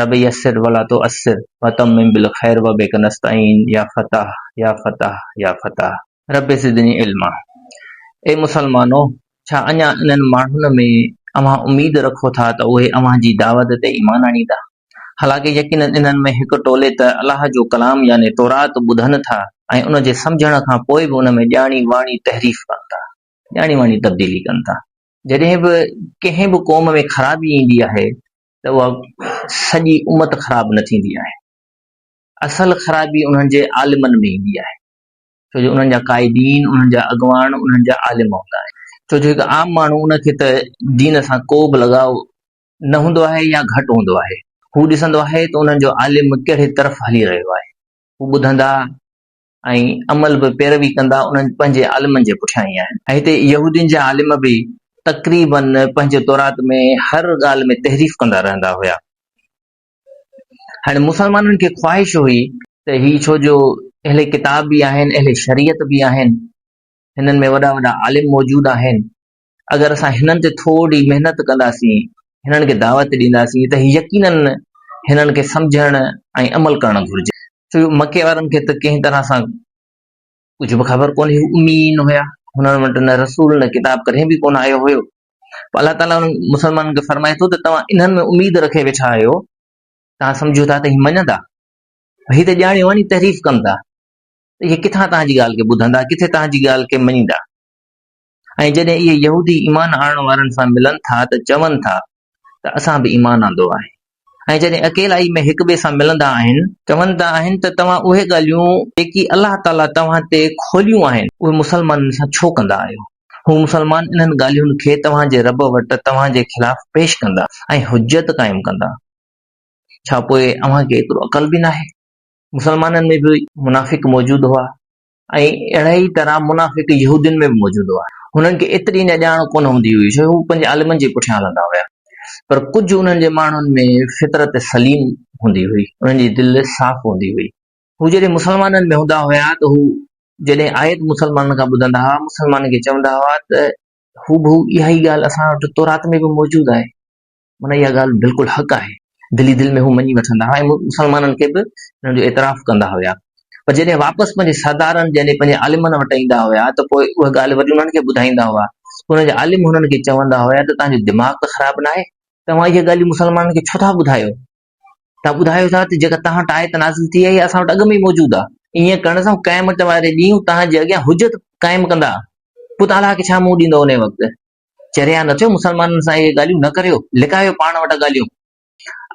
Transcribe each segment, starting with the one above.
رب يسر ولا تعسر وتمم بالخير وبک نستعين يا فتاح يا فتاح يا فتاح. رب زدني علما اي مسلمانو! ڇا اڃا انهن ماڻهن ۾ اوهان اميد رکو ٿا ته اهي اوهان جي دعوت تي ايمان آڻيندا؟ حالانڪه يقيناً انهن ۾ هڪ ٽولي ته الله جو ڪلام يعني تورات ٻڌن ٿا ۽ ان جي سمجهڻ کان پوء به ان ۾ ڄاڻي واڻي تحريف ڪن ٿا. ڄاڻي واڻي تبديلي ڪن ٿا. جڏهن به ڪنهن به قوم ۾ خرابي ايندي آهي ته اها سڄي امت خراب نه ٿيندي آهي. اصل خرابي انهن جي عالمن ۾ ايندي آهي. ڇو جو انهن جا قائدين، انهن جا اڳواڻ، انهن جا عالم هوندا آهن. ڇو جو هڪ عام ماڻهو ان کي ته دين سان ڪو به لڳاء نه هوندو آهي يا گهٽ هوندو آهي. هو ڏسندو آهي ته انهن جو عالم ڪهڙي طرف هلي رهيو آهي. هو ٻڌندا ۽ عمل به پيروي ڪندا انهن پنهنجي عالمن جي پٺيان ئي آهن. ۽ هتي يهودين جا عالم به تقريباً پنهنجي تورات ۾ هر ڳالهه ۾ تحريف ڪندا رهندا هيا. هاڻي مسلمانن کي خواهش هئي. ته هي ڇو جو اهل ڪتاب به آهن اهل شريعت به آهن هنن ۾ وڏا وڏا عالم موجود آهن اگر اسان هنن تي ٿورڙي محنت ڪنداسين، هنن کي دعوت ڏينداسين ته يقيناً هنن کي سمجهڻ ۽ عمل ڪرڻ گهرجي. ڇو جو مڪي وارن کي ته ڪنهن طرح سان ڪجهه به خبر ڪونهي، هو اميين هيا، هنن وٽ نه رسول نه ڪتاب ڪڏهن به ڪونه آيو هيو، پوء الله تعاليٰ انهن مسلمانن کي فرمائي ٿو ته توهان انهن ۾ اميد رکي ويٺا آهيو، توهان سمجهو ٿا ته هي مڃندا؟ هي ته ڄاڻي واڻي تحريف ڪن ٿا ته اهي ڪٿان توهان جي ڳالهه کي ٻڌندا، ڪٿي توهان جي ڳالهه کي مڃيندا. ۽ جڏهن اهي يهودي ايمان آڻڻ وارن سان ملن ٿا ته چون ٿا ته اسان به ايمان آندو آهي ۽ جڏهن اڪيلائي ۾ هڪٻئي سان ملندا آهن چوندا آهن ته توهان اهي ڳالهيون جيڪي الله تعاليٰ توهان تي کوليون آهن اهي مسلمانن سان ڇو ڪندا آهيو؟ هو مسلمان انهن ڳالهين کي توهان جي رب وٽ توهان جي خلاف پيش ڪندا ۽ حجت قائم ڪندا ڇا پوء اوهان کي ايترو عقل به ناهي؟ مسلمانن ۾ به منافق موجود هئا ۽ اهڙي ئي طرح منافق يهودين ۾ به موجود هئا. هنن کي ايتري نه ڄاڻ ڪونه هوندي هئي، ڇو جو هو پنهنجي عالمن جي پٺيان هلندا هيا. پر ڪجهه انهن جي ماڻهن ۾ فطرت سليم هوندي هئي، انهن جي دل صاف هوندي هئي. هو جڏهن مسلمانن ۾ هوندا هيا ته هو جڏهن آيت مسلمانن کان ٻڌندا هئا، مسلمانن کي چوندا هئا ته هو بهو اها ئي ڳالهه اسان وٽ تورات ۾ به موجود آهي. من اها ڳالهه بلڪل حق آهي. دل ئي دل ۾ هو مڃي وٺندا هئا ۽ مسلمانن کي به ان جو اعتراف ڪندا هيا. پر جڏهن واپس پنهنجي سردارن يعني پنهنجي عالمن وٽ ايندا هيا ته پوء اها ڳالهه وري انهن کي ٻڌائيندا هئا. پوء انهن جا عالم هنن کي چوندا هيا ته توهان جو دماغ ته خراب ناهي؟ توهان اهي ڳالهيون مسلمانن کي ڇو ٿا ٻڌايو؟ توهان ٻڌايو ٿا ته جيڪا توهان وٽ آيت نازل ٿي آهي اها اسان وٽ اڳ ۾ ئي موجود آهي. ائين ڪرڻ سان هو قيامت واري ڏينهن توهان جي اڳيان حجت قائم ڪندا. پوء توهان الله کي ڇا منهن ڏيندؤ انهيء وقت؟ چريا نه ٿيو، مسلمانن سان اهي ڳالهيون نه ڪريو، لڪايو پاڻ وٽ ڳالهيون.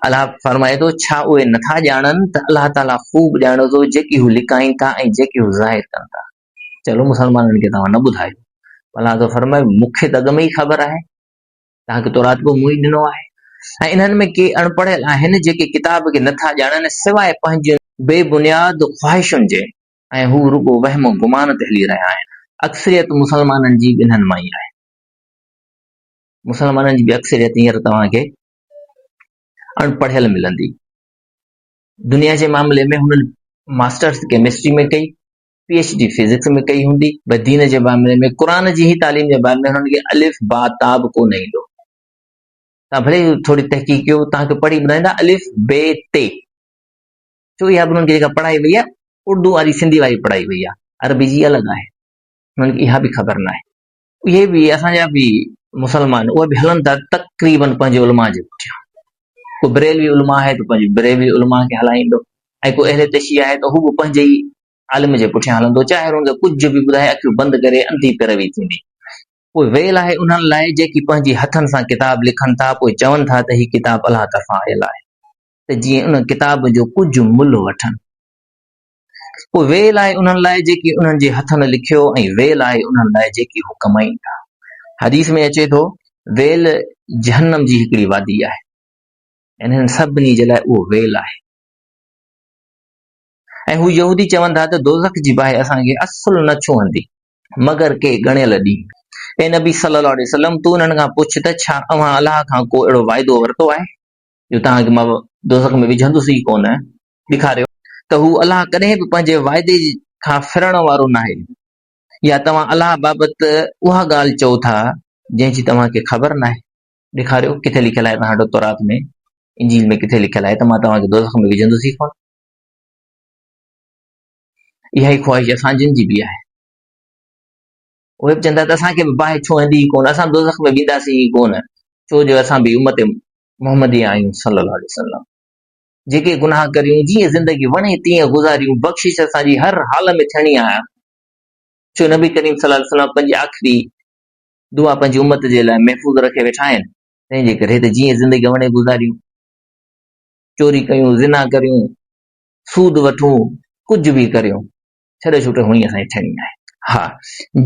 الله فرمائي ٿو، ڇا اهي نه ٿا ڄاڻن ته الله تعاليٰ خوب ڄاڻي ٿو جيڪي هو لڪائين ٿا ۽ جيڪي هو ظاهر ڪن ٿا. چلو مسلمانن کي توهان نه ٻڌايو. الله ٿو فرمائي، مون کي ته اڳ ۾ ئي خبر آهي. توهان کي تورات به مون ئي ڏنو آهي. ۽ انهن ۾ ڪي اڻ پڙهيل آهن جيڪي ڪتاب کي نه ٿا ڄاڻن سواء پنهنجين بي بنياد خواهشن جي. ۽ هو رڳو وهم و گمان تي هلي رهيا آهن. اڪثريت مسلمانن جي ٻنهن مان ئي آهي. مسلمانن جي به اڪثريت هينئر توهان کي اڻ پڙهيل ملندي. دنيا جي معاملي ۾ هنن ماسٽرس ڪيمسٽري ۾ ڪئي، پي ايڇ ڊي فزڪس ۾ ڪئي هوندي، پر دين جي معاملي ۾ قرآن جي هي تعليم جي باب ۾ هنن کي الف با تا به ڪو نه ايندو. توهان ڀلي ٿوري تحقيق ڪيو، توهان کي پڙهي ٻڌائيندا الف بي تي. ڇو اها به انهن کي جيڪا پڙهائي وئي آهي اردو واري سنڌي واري پڙهائي وئي آهي عربي جي الڳ آهي انهن کي اها به خبر نه آهي اهي به اسان جا به مسلمان اهي به هلن ٿا تقريبن پنهنجي علماء جي پٺيان ڪو بريلوي علماء آهي ته پنهنجي بريلوي علماء کي هلائيندو ۽ ڪو اهل تشيع آهي ته هو به پنهنجي ئي عالم جي پٺيان هلندو چاهي هن کي ڪجهه به ٻڌائي اکيون بند ڪري انڌي پيروي ٿيندي پوء ويل آهي انهن لاء جيڪي پنهنجي هٿن سان ڪتاب لکن ٿا پوء چون ٿا ته هي ڪتاب الله طرفان آيل آهي ته جيئن ان ڪتاب جو ڪجهه ملهه وٺن. پوء ويل آهي انهن لاء جيڪي انهن جي هٿن لکيو ۽ ويل آهي انهن لاء جيڪي هو ڪمائين ٿا. حديث ۾ اچي ٿو، ويل جهنم جي هڪڙي وادي آهي. انهن سڀني جي لاء اهو ويل آهي. ۽ هو يهودي چون ٿا ته دوزخ جي باهه اسان کي اصل نه ڇهندي مگر ڪي ڳڻيل ڏينهن اي نبي صلي الله عليه وسلم تو انهن کان پڇ ته ڇا اوهان الله کان ڪو اهڙو واعدو ورتو آهي جو توهان کي مان دوزخ ۾ وجهندس ئي ڪونه، ڏيکاريو ته هو الله ڪڏهن به پنهنجي وعدي کان ڦرڻ وارو ناهي يا توهان الله بابت اها ڳالهه چئو ٿا جنهن جي توهان کي خبر ناهي. ڏيکاريو ڪٿي لکيل آهي توهان وٽ تورات ۾ انجيل ۾ ڪٿي لکيل آهي ته مان توهان کي دوزخ ۾ وجهندس ئي ڪونه. اها ئي خواهش اسان جن جي به آهي. اهي به چون ٿا ته اسان کي به باهه ڇهندي ئي ڪونه، اسان دوزخ ۾ وينداسين ئي ڪونه، ڇو جو اسان به امت محمدي آهيون صلّي اللّٰه عليه وسلّم جيڪي گناهه ڪريون، جيئن زندگي وڻي تيئن گذاريون، بخشش اسان جي هر حال ۾ ٿيڻي آهي، ڇو نبي ڪريم صلّي اللّٰه عليه وسلّم پنهنجي آخري دعا پنهنجي امت جي لاء محفوظ رکي ويٺا آهن، تنهن جي ڪري ته جيئن زندگي وڻي گذاريون، چوري ڪيون، زنا ڪريون، سود وٺون، ڪجهه به ڪريون، ڇڏو ڇوٽو هوڻي اسان جي ٿيڻي آهي. ها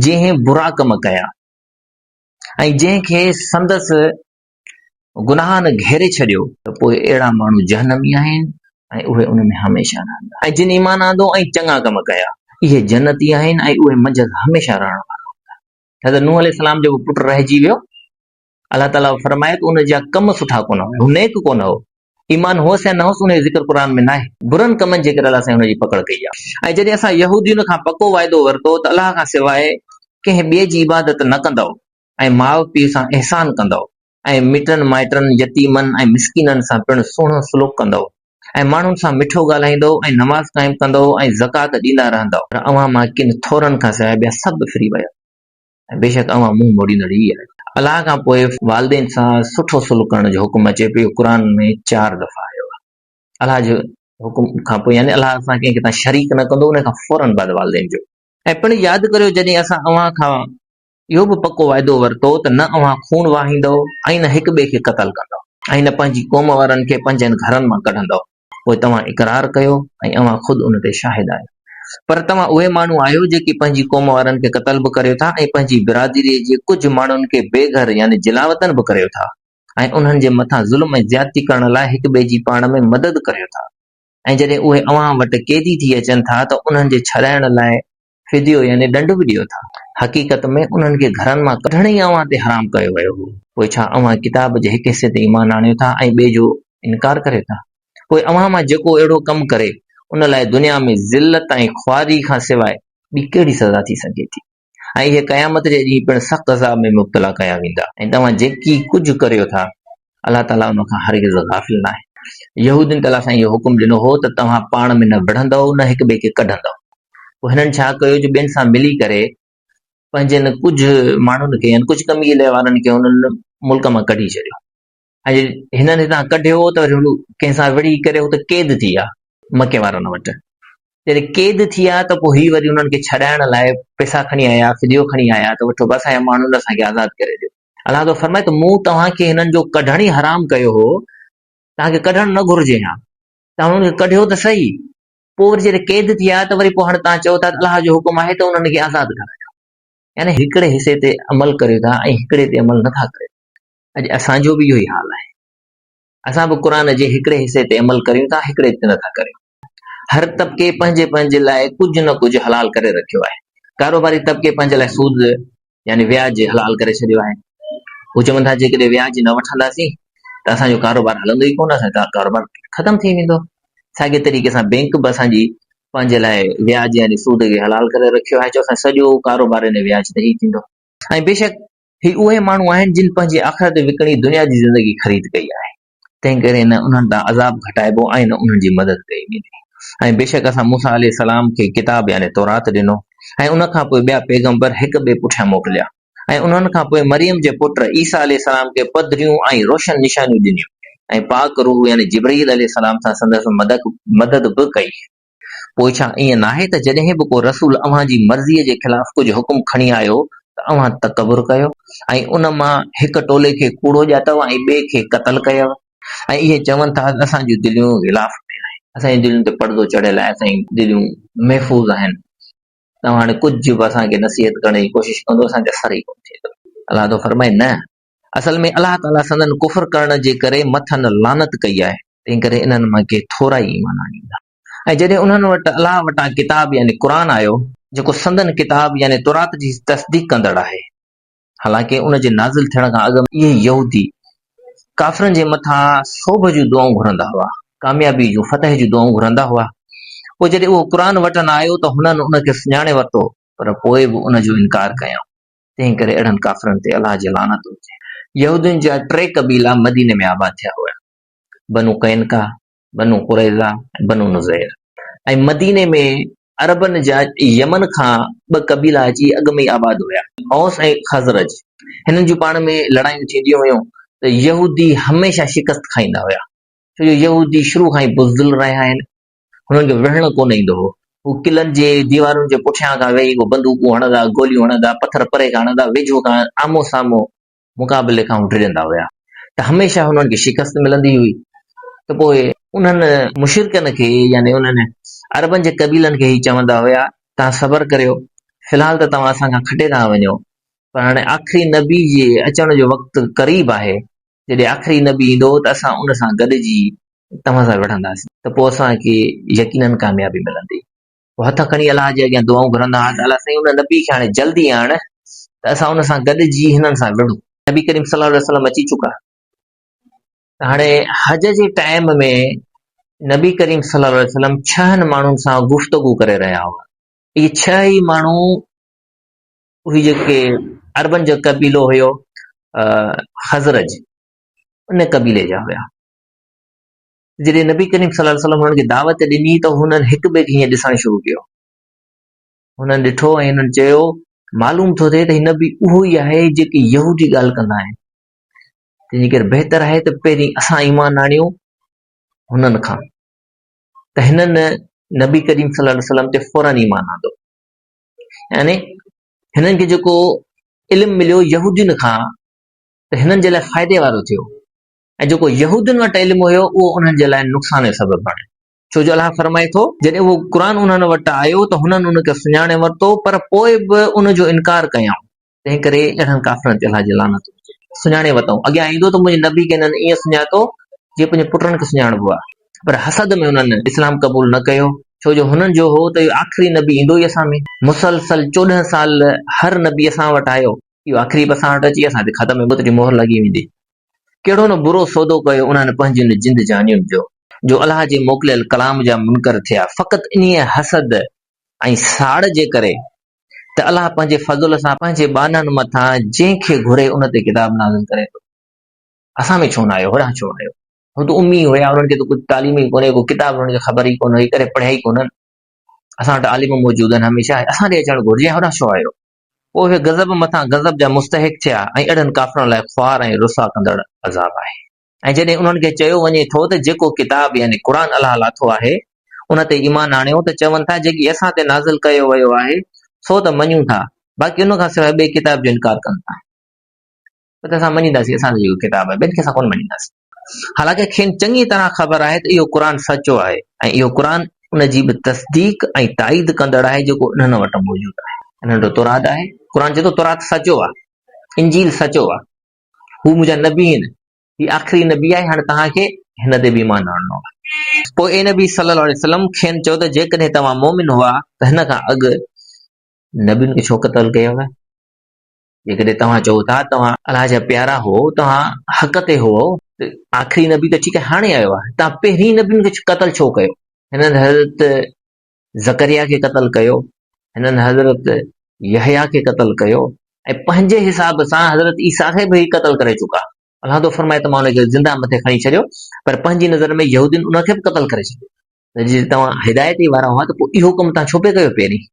جنهن برا ڪم ڪيا ۽ جنهن کي سندس گناهن گهيري ڇڏيو ته پوء اهڙا ماڻهو جهنمي آهن ۽ اهي ان ۾ هميشه رهندا ۽ جن ايمان آندو ۽ چڱا ڪم ڪيا اهي جنتي آهن ۽ اهي منجهس هميشه رهڻ وارا هوندا. حضرت نوح عليه السلام جو به پٽ رهجي ويو الله تعاليٰ فرمائي ته ان جا ڪم سٺا ڪونه هئا، هو نيڪ ڪونه هو. ايمان هوس يا نه هوس، ان جو ذڪر قرآن ۾ ناهي. برن ڪمن جي ڪري الله سائين هن جي پڪڙ ڪئي آهي. ۽ جڏهن اسان يهودين کان پڪو وعدو ورتو ته الله کان سواء ڪنهن ٻئي جي عبادت نه ڪندؤ ۽ ماء پيء سان احسان ڪندؤ ۽ مٽن مائٽن، يتيمن ۽ مسڪينن سان پڻ سهڻو سلوڪ ڪندؤ ۽ ماڻهن سان مٺو ڳالهائيندؤ ۽ نماز قائم ڪندؤ ۽ زڪوات ڏيندا رهندؤ. پر اوهان مان ڪن ٿورن کان سواء ٻيا سڀ ڦري ويا. ۽ بيشڪ اوهان منهن موڙيندڙ ئي آهيو. الله کان پوء والدين سان سٺو سلوڪ ڪرڻ جو حڪم اچي پيو، اهو قرآن ۾ چار دفعا آيو آهي. الله جي حڪم کان پوء يعني الله سان ڪنهن کي تان شريڪ نه ڪندو، ان کان فوراً بعد والدين جو. ۽ پڻ ياد ڪريو جڏهن اسان اوهان کان اهو به پڪو وعدو ورتو ته نه اوهان خون وهائيندؤ ۽ نه هڪ ٻئي کي قتل ڪندؤ ۽ نه پنهنجي قوم وارن کي پنهنجن گهرن مان ڪڍندؤ پوء توهان اقرار ڪيو ۽ اوهان خود ان تي شاهد آهيو. پر توهان اهي ماڻهو آهيو جيڪي پنهنجي قوم وارن کي قتل به ڪريو ٿا ۽ پنهنجي برادريء جي ڪجهه ماڻهن کي بي گهر يعني جلاوطن به ڪريو ٿا ۽ انهن جي مٿان ظلم ۽ زيادتي ڪرڻ لاء هڪ ٻئي جي پاڻ ۾ مدد ڪريو ٿا ۽ جڏهن اهي اوهان وٽ قيدي ٿي اچن ٿا ته انهن جي ڇڏائڻ لاء فديو يعني ڏنڊ به ڏيو ٿا. حقيقت ۾ انهن کي گهرن مان ڪڍڻ ئي اوهان تي حرام ڪيو ويو هو. پوء ڇا اوهان ڪتاب جي هڪ حصي تي ايمان آڻيو ٿا ۽ ٻئي جو انڪار ڪريو ٿا؟ پوء اوهان مان جيڪو اهڙو ڪم ڪري، ان لاء دنيا ۾ ذلت ۽ خواري کان سواء ٻي ڪهڙي سزا ٿي سگهي ٿي؟ ۽ اهي قيامت جي ڏينهن پڻ سخت عذاب ۾ مبتلا ڪيا ويندا. ۽ توهان جيڪي ڪجهه ڪريو ٿا، الله تعاليٰ ان کان هرگز غافل ناهي. يهودين ته الله سائين اهو حڪم ڏنو هو ته توهان پاڻ ۾ نه وڙهندؤ نه هڪ ٻئي کي ڪڍندؤ. پوء هنن ڇا ڪيو جو ٻين سان ملي ڪري پنهنجن ڪجهه ماڻهن کي يعني ڪجهه قبيلي وارن کي انهن ملڪ مان ڪڍي ڇڏيو ۽ جي هنن هتان ڪڍيو ته وري هو ڪنهن سان وڙهي ڪري هت قيد ٿي ويا مڪي وارن وٽ. جڏهن قيد ٿي ويا ته پوء هي وري انهن کي ڇڏائڻ لاء پئسا کڻي آيا، فديو کڻي آيا ته وٺو بس اسان جا ماڻهن اسان کي آزاد ڪري ڏيو. الله تعاليٰ فرمائي ته مون توهان کي هنن جو ڪڍڻ ئي حرام ڪيو هو توهان کي ڪڍڻ نه گهرجي ها توهان هنن کي ڪڍيو ته صحيح پوء وري جڏهن قيد ٿي آيا ته وري پوء هاڻي توهان چئو ٿا ته الله جو حڪم آهي ته انهن کي آزاد ڪرايو يعني هڪڙي حصي تي عمل ڪريو ٿا ۽ هڪڙي تي عمل نٿا ڪريو اڄ اسان جو به اهو ئي حال آهي اسان به قرآن جي هڪڙي حصي تي عمل ڪريون ٿا هڪڙي تي نٿا ڪريون هر طبقي پنهنجي پنهنجي لاء ڪجهه نه ڪجهه حلال ڪري رکيو آهي. ڪاروباري طبقي پنهنجي لاء سود يعني وياج حلال ڪري ڇڏيو آهي. هو چون ٿا جيڪڏهن وياج نه وٺنداسين ته اسان جو ڪاروبار هلندو ئي ڪونه، اسان جو ڪاروبار ختم ٿي ويندو. ساڳي طريقي سان بينڪ به اسان جي پنهنجي لاء وياج يعني سود کي حلال ڪري رکيو آهي، چون ٿا سڄو ڪاروبار ان وياج تي ئي ٿيندو. ۽ بيشڪ هي اهي ماڻهو آهن جن پنهنجي آخرت وڪڻي دنيا جي زندگي خريد ڪئي آهي. تنهن ڪري نه انهن تان عذاب گهٽائبو ۽ نه انهن جي مدد ڪئي ويندي ۽ بيشڪ اسان موسيٰ عليه السلام کي ڪتاب يعني تورات ڏنو ۽ ان کان پوء ٻيا پيغمبر هڪ ٻئي پٺيان موڪليا ۽ انهن کان پوء مريم جي پٽ عيسيٰ عليه السلام کي پڌريون ۽ روشن نشانيون ڏنيون ۽ پاڪ روح يعني جبرئيل عليه السلام سان سندس مدد به ڪئي. پوء ڇا ائين ناهي ته جڏهن به ڪو رسول اوهان جي مرضيء جي خلاف ڪجهه حڪم کڻي آيو ته اوهان تڪبر ڪيو ۽ ان مان هڪ ٽولي کي ڪوڙو ڄاتو ۽ ٻئي کي قتل ڪيو ۽ اهي چون ٿا ته اسان جون دليون غلاف ۾ آهن. اسان جي دلين تي پڙدو چڙهيل آهي، اسان جون دليون محفوظ آهن، توهان هاڻي ڪجهه به اسان کي نصيحت ڪرڻ جي ڪوشش ڪندو اسان کي اثر ئي ڪونه ٿيندو. الله تعاليٰ فرمائي، نه! اصل ۾ الله تعاليٰ سندن ڪفر ڪرڻ جي ڪري مٿن لعنت ڪئي آهي، تنهن ڪري انهن مان ڪي ٿورا ئي ايمان آڻيندا. ۽ جڏهن انهن وٽ الله وٽان ڪتاب يعني قرآن آيو، جيڪو سندن ڪتاب يعني تورات جي تصديق ڪندڙ آهي، حالانڪه ان جي نازل ٿيڻ کان اڳ ۾ اهي، يهودي، ڪافرن جي مٿان سوڀ جون دعائون گهرندا هئا، ڪاميابيء جون، فتح جون دعائون گهرندا هئا، پوء جڏهن اهو قرآن وٽن آيو ته هنن ان کي سڃاڻي ورتو، پر پوء به ان جو انڪار ڪيائون. تنهن ڪري اهڙن ڪافرن تي الله جي لعنت هجي. يهودين جا ٽي قبيلا مديني ۾ آباد ٿيا هيا، بنو قينقاع، بنو قريظه ۽ بنو نضير ۽ مديني ۾ عربن جا يمن کان ٻه قبيلا اچي اڳ ۾ ئي آباد هيا. اوس ۽ خزرج هنن جون پاڻ ۾ لڙايون ٿينديون هيون ته يهودي هميشه شڪست کائيندا هيا، ڇو جو يهودي شروع کان ئي بزدل رهيا آهن هنن کي وڙهڻ ڪونه ايندو هو. هو قلعن جي ديوارن جي پٺيان کان ويهي هو بندوقون هڻندا، گوليون هڻندا، پٿر پري کان هڻندا، ويجهو کان آمهون سامهون. مقابلي کان هو ڊڄندا هيا ته هميشه هنن کي شڪست ملندي هئي ته پوء. انهن مشرڪن کي يعني انهن عربن جي قبيلن کي هي چوندا هيا، توهان صبر ڪريو، في الحال ته توهان اسان کان کٽي رهيا وڃو، پر هاڻي آخري نبي جي اچڻ جو وقت قريب آهي، جڏهن آخري نبي ايندو ته اسان ان سان گڏجي توهان سان وڙهنداسين ته پوء اسان کي يقيناً ڪاميابي ملندي. پوء هٿ کڻي الله جي اڳيان دعائون گهرندا هئا ته الله سائين ان نبي کي هاڻي جلدي آڻ ته اسان ان سان گڏجي هنن سان وڙهون. نبي ڪريم صلي الله عليه وسلم اچي چڪا ته هاڻي حج جي ٽائيم ۾ نبي ڪريم صلي الله عليه وسلم ڇهن ماڻهن سان گفتگو ڪري رهيا هئا. اهي ڇهه ئي ماڻهو اهي جيڪي عربن جو قبيلو هيو خزرج ان قبيلي جا هيا جڏهن نبي ڪريم صلي الله وسلم هنن کي دعوت ڏني ته هنن هڪ ٻئي کي هيئن ڏسڻ شروع ڪيو هنن ڏٺو ۽ هنن چيو معلوم ٿو ٿئي ته هن به اهو ئي آهي جيڪي يهودي ڳالهه ڪندا آهن تنهنجي ڪري بهتر آهي ته پهرين اسان ايمان آڻيون هنن کان ته هنن نبي ڪريم صلي الله وسلم تي فورن ايمان آندو يعني هنن کي جيڪو علم مليو يهودين کان ته هنن جي لاء فائدي وارو ٿيو ۽ جيڪو يهودين وٽ علم هيو اهو انهن جي لاء نقصان جو سبب بڻيو ڇو جو الله فرمائي ٿو جڏهن اهو قرآن انهن وٽ آيو ته هنن ان کي سڃاڻي ورتو پر پوء به ان جو انڪار ڪيائون تنهنڪري اهڙن ڪافرن تي الله جي لعنت هجي. سڃاڻي وتئون اڳيان ايندو ته منهنجي نبي کي هنن ائين سڃاتو، جيئن پنهنجي پٽن کي سڃاڻبو آهي. پر حسد ۾ هنن اسلام قبول نه ڪيو، ڇو جو هنن جو هو ته اهو آخري نبي ايندو ئي اسان ۾. مسلسل چوڏهن سال هر نبي اسان وٽ آيو، اهو آخري به اسان وٽ اچي اسان تي ختم موت جي مهر لڳي ويندي. ڪهڙو نه برو سودو ڪيو انهن پنهنجين جند جانين جو، جو الله جي موڪليل ڪلام جا منڪر ٿيا، فقط انهيء حسد ۽ ساڙ جي ڪري، ته الله پنهنجي فضل سان پنهنجي ٻانهن مٿان جنهن کي گهري ان تي ڪتاب نازل ڪري ٿو. اسان ۾ ڇو نه آيو هوڏانهن ڇو آيو؟ هو ته امي هيا انهن کي ته ڪجهه تعليم ئي ڪونهي ڪو ڪتاب انهن کي خبر ئي ڪونه هئي ڪڏهن پڙهيا ئي ڪونهن اسان وٽ عالم موجود آهن هميشه اسان ڏي اچڻ گهرجي ۽ هوڏانهن ڇو آيو؟ پوء اهي غضب مٿان غضب جا مستحق ٿيا ۽ اهڙن ڪافرن لاء خوار ۽ رسوا ڪندڙ عذاب آهي. ۽ جڏهن انهن کي چيو وڃي ٿو ته جيڪو ڪتاب يعني قرآن الله لاٿو آهي ان تي ايمان آڻيو ته چون ٿا جيڪي اسان تي نازل ڪيو ويو آهي سو ته مڃون ٿا باقي ان کان سواء ٻئي ڪتاب جو انڪار ڪن ٿا ته اسان مڃينداسين اسان جو جيڪو ڪتاب آهي ٻين کي اسان ڪونه مڃينداسين حالانڪه کين چڱي طرح خبر آهي ته اهو قرآن سچو آهي ۽ اهو قرآن ان جي به تصديق ۽ تائيد ڪندڙ آهي جيڪو انهن وٽ موجود آهي انهن جو تورات آهي قرآن چئي ٿو تورات سچو آهي انجيل سچو آهي هو منهنجا نبي آهن، هي آخري نبي آهي، هاڻي توهان کي هن تي به ايمان آڻڻو آهي. پوء اي نبي صلّي اللّٰه عليه وسلّم کين چئو ته جيڪڏهن توهان مؤمن هئا ته هن کان اڳ نبين کي ڇو قتل ڪيو آهي؟ جيڪڏهن توهان چئو ٿا توهان الله جا پيارا هئو، توهان حق تي هئو ته آخري نبي ته ٺيڪ آهي هاڻي آيو آهي، توهان پهرين نبين کي قتل ڇو ڪيو؟ هنن حضرت زڪريا کي قتل ڪيو، هنن حضرت يحيٰ کي قتل ڪيو ۽ پنهنجي حساب سان حضرت عيسيٰ کي به قتل ڪري چڪا. الله ٿو فرمائي ته مان ان کي زنده مٿي کڻي ڇڏيو پر پنهنجي نظر ۾ يهودين ان کي به قتل ڪري ڇڏيو ته جي توهان هدايت ئي وارا هئا ته پوء اهو ڪم توهان ڇو پئي ڪيو پهرين؟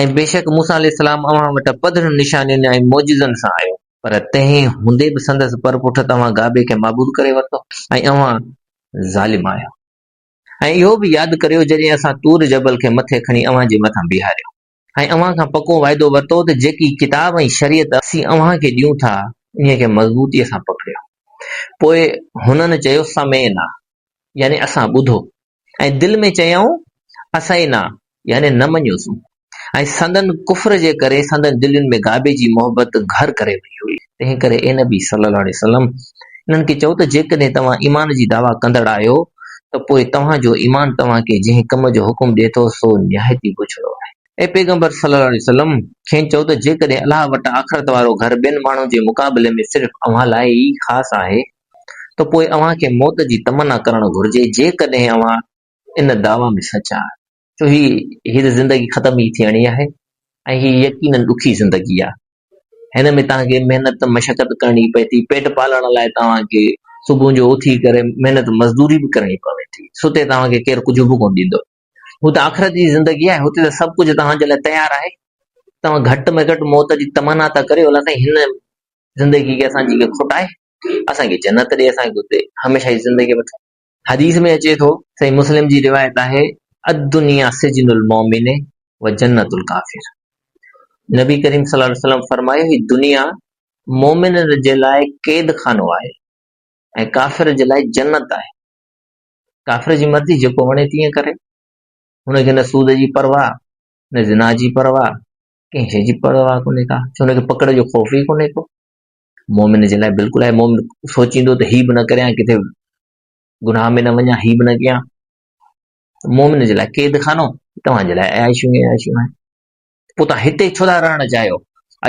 ۽ بيشڪ موسيٰ عليه السلام اوهان وٽ پڌرن نشانين ۽ معجزن سان آيو. پر تنهن هوندي به سندس پر پٺ توهان گابي کي معبود ڪري ورتو ۽ اوهان ظالم آهيو. ۽ اهو به ياد ڪريو جڏهن اسان طور جبل کي مٿي کڻي اوهان جي مٿان بيهاريو ۽ اوهان کان پڪو وعدو ورتو ته جيڪي ڪتاب ۽ شريعت اسين اوهان کي ڏيون ٿا انهي کي مضبوطيء سان پڪڙيو پوء هنن چيو سمعنا يعني اسان ٻڌو ۽ دل ۾ چيائون اسعينا يعني نه مڃيوسون ۽ سندن ڪفر جي ڪري سندن دلين ۾ ڪعبي جي محبت گهر ڪري وئي هئي. تنهن ڪري اي نبي صلّي الله عليه وسلّم! انهن کي چئو ته جيڪڏهن توهان ايمان جي دعويٰ ڪندڙ آهيو ته پوء توهان جو ايمان توهان کي جنهن ڪم جو حڪم ڏئي ٿو سو نهايت ئي بڇڙو آهي. اي پيغمبر صلّي الله عليه وسلّم! کين چئو ته جيڪڏهن الله وٽ آخرت وارو گهر ٻين ماڻهن جي مقابلي ۾ صرف اوهان لاء ئي خاص آهي ته پوء اوهان کي موت جي تمنا ڪرڻ گهرجي جيڪڏهن اوهان ان دعويٰ ۾ سچ آهي ڇو هي هي ته زندگي ختم ئي ٿيڻي آهي ۽ هي يقينن ڏکي زندگي آهي. هن ۾ توهان کي محنت مشقت ڪرڻي پوي ٿي، پيٽ پالڻ لاء توهان کي صبح جو اٿي ڪري محنت مزدوري به ڪرڻي پوي ٿي، ستي توهان کي ڪير ڪجهه به ڪونه ڏيندو. هو ته آخرت جي زندگي آهي، هتي ته سڀ ڪجهه توهان جي لاء تيار آهي. توهان گهٽ ۾ گهٽ موت جي تمنا ٿا ڪريو، الله سائين هن زندگي کي اسان جي کي کوٽائي، اسان کي جنت ڏي، اسان کي هتي هميشه جي زندگي وٺ. حديث ۾ اچي ٿو، صحيح مسلم جي روايت آهي، الدنيا سجن المؤمن و جنت الڪافر نبي ڪريم صلي الله عليه وسلم فرمايو هي دنيا مؤمن جي لاء قيد خانو آهي ۽ ڪافر جي لاء جنت آهي. ڪافر جي مرضي جيڪو وڻي تيئن ڪري. هن کي نه سود جي پرواهه، نه زنا جي پرواهه، ڪنهن شي جي پرواهه ڪونهي ڪا، ڇو هن کي پڪڙ جو خوف ئي ڪونهي ڪو. مؤمن جي لاء بلڪل آهي، مؤمن سوچيندو ته هي به نه ڪريان ڪٿي گناهه ۾ نه وڃان، هي به نه ڪيان، مؤمن جي لاء قيد خانو توهان جي لاء عياشيون ئي عياشيون آهن. پوء توهان هتي ڇو ٿا رهڻ چاهيو؟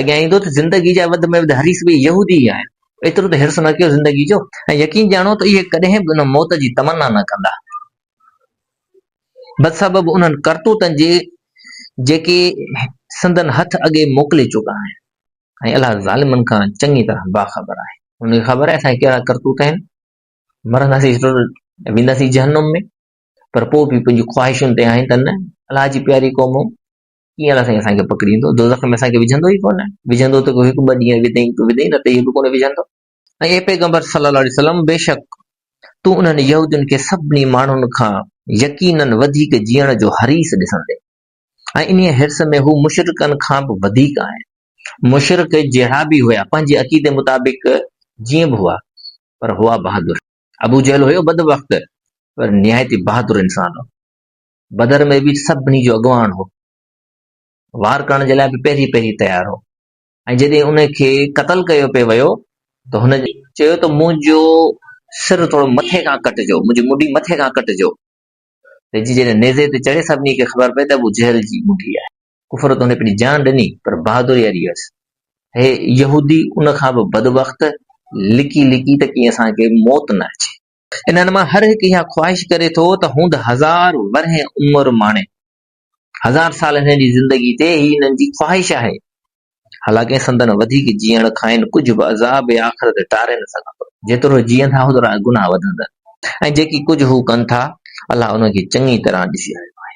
اڳيان ايندو ته زندگي جا وڌ ۾ وڌ حريص به يهودي ئي آهن. ايترو ته حرص نه ڪيو زندگي جو ۽ يقين ڄاڻو ته اهي ڪڏهن به ان موت جي تمنا نه ڪندا. بدسبب انهن ڪرتوتن جي جيڪي سندن هٿ اڳي موڪلي چڪا آهن. ۽ الله ظالمن کان چڱي طرح باخبر آهي. هن کي خبر آهي اسان جا ڪهڙا ڪرتوت آهن. مرنداسين ضرور ۽ وينداسين جهنم ۾، پر پوء به پنهنجي خواهشن تي آهين ته نه، الله جي پياري قومو! ڪيئن الله سائين اسان کي پڪڙيندو؟ دوزخ ۾ اسان کي وجهندو ئي ڪونه. وجهندو ته ڪو هڪ ٻه ڏينهن وڌئين ته وڌئين، نه ته اهو به ڪونه وجهندو. ۽ اي پيغمبر صلّي اللّٰه عليه وسلّم! بيشڪ تون انهن يهودين کي سڀني ماڻهن کان يقيناً وڌيڪ جيئڻ جو حريص ڏسندين. ۽ انهيء حرص ۾ هو مشرڪن کان به وڌيڪ آهن. مشرڪ جهڙا به هيا، پنهنجي عقيدي مطابق جيئن به هئا، پر هئا بهادر. ابو جهل هيو بدبخت، پر نهايت ئي بهادر انسان هو. بدر ۾ به سڀني جو اڳواڻ هو. وار ڪرڻ جي لاء به پهرين پهرين تيار هو ۽ جڏهن ان کي قتل ڪيو پئي ويو ته هن چيو ته منهنجو سر ٿورو مٿي کان ڪٽجو، منهنجي مڍي مٿي کان ڪٽجو. ويجهي جڏهن نيزي تي چڙهي سڀني کي خبر پئي ته ابو جهل جي منگهي آهي. ڪفر تون پنهنجي جان ڏني پر بهادري اڙي هئس. هي يهودي ان کان به بدبخت لڪي لڪي ته ڪيئن اسان کي موت نه اچي. انهن مان هر هڪ اها خواهش ڪري ٿو ته هوند هزار ورهين عمر ماڻي. هزار سال هنن جي زندگي تي هي هنن جي خواهش آهي. حالانڪه سندن وڌيڪ جيئڻ کانئن ڪجهه به عذاب آخرت ٽاري نه سگهندو. جيترو جيئن ٿا اوترا گناهه وڌندا ۽ جيڪي ڪجهه هو ڪن ٿا، الله انهن کي چڱي طرح ڏسي رهيو آهي.